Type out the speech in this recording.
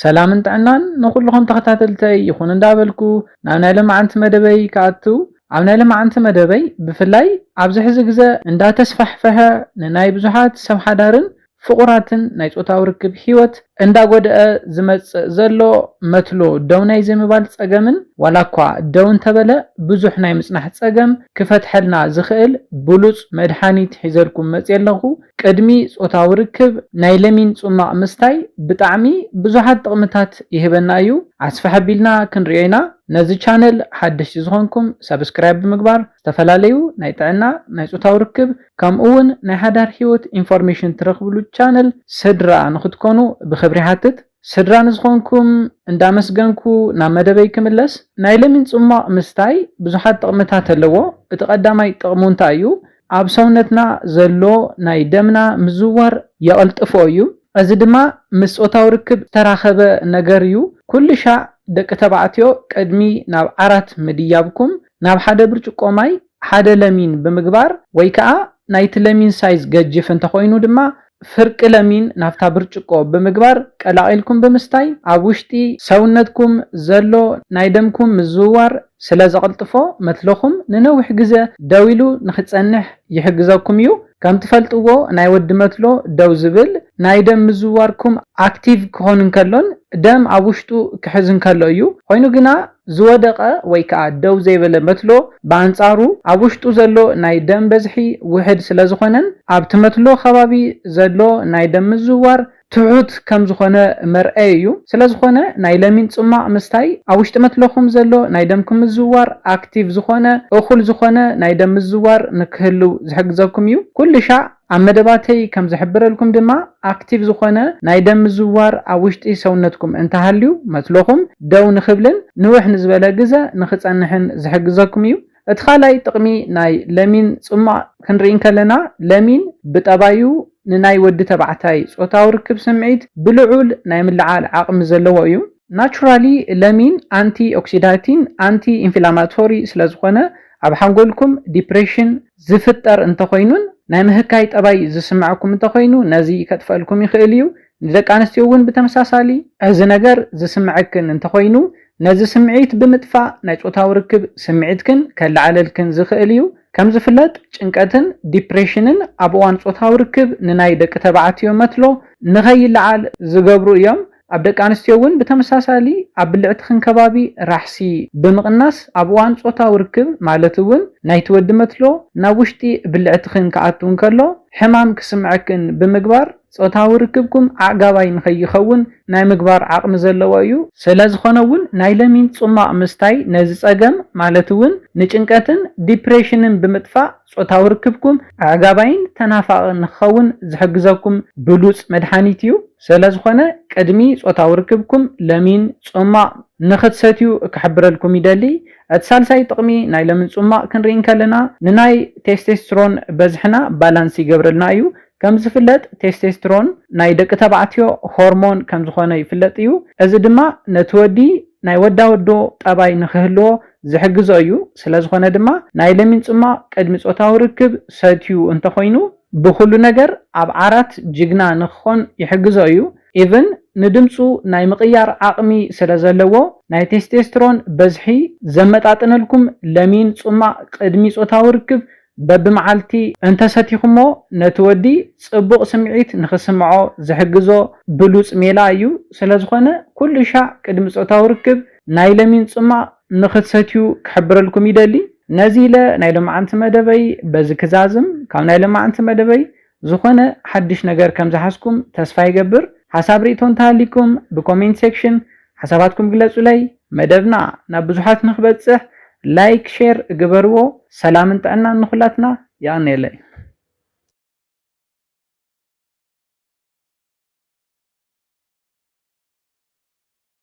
ሰላምን ጥዕናን ንኹሉኹም ተኸታተልተይ ይኹን እንዳበልኩ ናብ ናይ ለማዓንቲ መደበይ ክኣትው ኣብ ናይ ለማዓንቲ መደበይ ብፍላይ ኣብዚ ሕዚ ግዘ እንዳተስፋሕፈሐ ንናይ ብዙሓት ሰብ ሓዳርን ፍቑራትን ናይ ፆታዊ ርክብ ሂወት እንዳጎደኣ ዝመፅእ ዘሎ መትሎ ደው ናይ ዘይምባል ፀገምን ዋላ እኳ ደው እንተበለ ብዙሕ ናይ ምፅናሕ ፀገም ክፈትሐልና ዝኽእል ብሉፅ መድሓኒት ሒዘልኩም መፅየ ኣለኹ ቅድሚ ጾታዊ ርክብ ናይ ለሚን ጹማቕ ምስታይ ብጣዕሚ ብዙሓት ጥቕምታት ይህበና እዩ ኣስፍሕ ኣቢልና ክንሪኦ ኢና ነዚ ቻነል ሓደሽቲ ዝኾንኩም ሳብስክራይብ ብምግባር ዝተፈላለዩ ናይ ጥዕና ናይ ጾታዊ ርክብ ከምኡ ውን ናይ ሓዳር ሂወት ኢንፎርሜሽን ትረኽብሉ ቻነል ስድራ ንኽትኮኑ ብኽብሪ ይሓትት ስድራ ንዝኾንኩም እንዳመስገንኩ ናብ መደበይ ክምለስ፣ ናይ ለሚን ጽሟቕ ምስታይ ብዙሓት ጥቕምታት ኣለዎ፣ እቲ ቀዳማይ ጥቕሙ እንታይ እዩ? ኣብ ሰውነትና ዘሎ ናይ ደምና ምዝውዋር የቐልጥፎ እዩ፣ እዚ ድማ ምስ ጾታዊ ርክብ ዝተራኸበ ነገር እዩ፣ ኩልሻዕ ደቂ ተባዕትዮ ቅድሚ ናብ ዓራት ምድያብኩም ናብ ሓደ ብርጭቆ ማይ ሓደ ለሚን ብምግባር ወይ ከኣ ናይቲ ለሚን ሳይዝ ገጅፍ እንተኾይኑ ድማ ፍርቂ ለሚን ናብታ ብርጭቆ ብምግባር ቀላቒልኩም ብምስታይ ኣብ ውሽጢ ሰውነትኩም ዘሎ ናይ ደምኩም ምዝውዋር ስለዘቕልጥፎ መትሎኹም ንነዊሕ ግዘ ደው ኢሉ ንኽጸንሕ ይሕግዘኩም እዩ። ከምትፈልጥዎ ናይ ወዲ መትሎ ደው ዝብል ናይ ደም ምዝውዋርኩም ኣክቲቭ ክኾን እንከሎን ደም ኣብ ውሽጡ ክሕዝ እንከሎ እዩ። ኾይኑ ግና ዝወደቐ ወይ ከኣ ደው ዘይበለ መትሎ ብኣንጻሩ ኣብ ውሽጡ ዘሎ ናይ ደም በዝሒ ውሕድ ስለዝኾነን ኣብቲ መትሎ ከባቢ ዘሎ ናይ ደም ምዝውዋር ትሑት ከምዝኾነ መርኣዪ እዩ። ስለዝኾነ ናይ ለሚን ጽሟቕ ምስታይ ኣብ ውሽጢ መትሎኹም ዘሎ ናይ ደምኩም ምዝውዋር ኣክቲቭ ዝኾነ፣ እኹል ዝኾነ፣ ናይ ደም ምዝውዋር ንክህልው ዝሕግዘኩም እዩ። ኩልሻዕ። ኣብ መደባተይ ከም ዝሕብረልኩም ድማ ኣክቲቭ ዝኾነ ናይ ደም ምዝውዋር ኣብ ውሽጢ ሰውነትኩም እንተሃልዩ መትሎኹም ደው ንኽብልን ንውሕ ንዝበለ ግዘ ንኽፀንሕን ዝሕግዘኩም እዩ። እቲ ካልኣይ ጥቕሚ ናይ ለሚን ፅሟቕ ክንርኢ እንከለና ለሚን ብጠባዩ ንናይ ወዲ ተባዕታይ ፆታዊ ርክብ ስምዒት ብልዑል ናይ ምልዓል ዓቕሚ ዘለዎ እዩ። ናቹራሊ ለሚን ኣንቲ ኦክሲዳቲን ኣንቲ ኢንፍላማቶሪ ስለዝኾነ ኣብ ሓንጎልኩም ዲፕሬሽን፣ ዝፍጠር እንተኾይኑን ናይ ምህካይ ጠባይ ዝስመዐኩም እንተኾይኑ ነዚ ከጥፈእልኩም ይኽእል እዩ። ንደቂ ኣንስትዮ እውን ብተመሳሳሊ። እዚ ነገር ዝስመዐክን እንተኾይኑ ነዚ ስምዒት ብምጥፋእ ናይ ፆታዊ ርክብ ስምዒትክን ከለዓዕለልክን ዝኽእል እዩ። ከም ዝፍለጥ ጭንቀትን ዲፕሬሽንን ኣብ እዋን ፆታዊ ርክብ ንናይ ደቂ ተባዕትዮ መትሎ ንኸይለዓል ዝገብሩ እዮም። ኣብ ደቂ ኣንስትዮ እውን ብተመሳሳሊ ኣብ ብልዕቲ ክንከባቢ ራሕሲ ብምቕናስ ኣብ እዋን ፆታዊ ርክብ ማለት እውን ናይቲ ወዲ መትሎ ናብ ውሽጢ ብልዕትኽን ክኣቱ እንከሎ ሕማም ክስምዐክን ብምግባር ፆታዊ ርክብኩም ኣዕጋባይ ንከይኸውን ናይ ምግባር ዓቕሚ ዘለዎ እዩ። ሰለዝኾነ እውን ናይ ለሚን ፁማቕ ምስታይ ነዚ ፀገም ማለት እውን ንጭንቀትን ዲፕሬሽንን ብምጥፋእ ጾታዊ ርክብኩም ኣዕጋባይን ተናፋቕን ንኽኸውን ዝሕግዘኩም ብሉጽ መድሓኒት እዩ። ሰለዝኾነ ቅድሚ ጾታዊ ርክብኩም ለሚን ጹማቕ ንኽትሰትዩ ክሕብረልኩም ይደሊ። እቲ ሳልሳይ ጥቕሚ ናይ ለሚን ጹማቕ ክንርኢ እንከለና ንናይ ቴስቴስትሮን በዝሕና ባላንስ ይገብረልና እዩ። ከምዝፍለጥ ቴስቴስትሮን ናይ ደቂ ተባዕትዮ ሆርሞን ከምዝኾነ ይፍለጥ እዩ። እዚ ድማ ነቲ ወዲ ናይ ወዳወዶ ጠባይ ንኽህልዎ ዝሕግዞ እዩ። ስለዝኾነ ድማ ናይ ለሚን ፅሟቕ ቅድሚ ፆታዊ ርክብ ሰትዩ እንተኾይኑ ብኹሉ ነገር ኣብ ዓራት ጅግና ንክኾን ይሕግዞ እዩ። ኢቭን ንድምፁ ናይ ምቕያር ዓቕሚ ስለዘለዎ ናይ ቴስቴስትሮን በዝሒ ዘመጣጥነልኩም ለሚን ፅሟቕ ቅድሚ ፆታዊ ርክብ በብመዓልቲ እንተ ሰቲኹሞ ነቲ ወዲ ጽቡቕ ስምዒት ንኽስምዖ ዝሕግዞ ብሉጽ ሜላ እዩ፣ ስለዝኾነ ኩሉሻዕ ቅድሚ ጾታዊ ርክብ ናይ ለሚን ጽሟቕ ንኽትሰትዩ ክሕብረልኩም ይደሊ። ነዚ ኢለ ናይ ሎምዓንቲ መደበይ በዚ ክዛዝም፣ ካብ ናይ ሎምዓንቲ መደበይ ዝኾነ ሓዱሽ ነገር ከም ዝሓዝኩም ተስፋ ይገብር። ሓሳብ ሪኢቶ እንተሃልይኩም ብኮሜንት ሴክሽን ሓሳባትኩም ግለጹለይ። መደብና ናብ ብዙሓት ንክበጽሕ ላይክ ሼር ግበርዎ። ሰላምን ጥዕናን ንኹላትና። የቐንየለይ።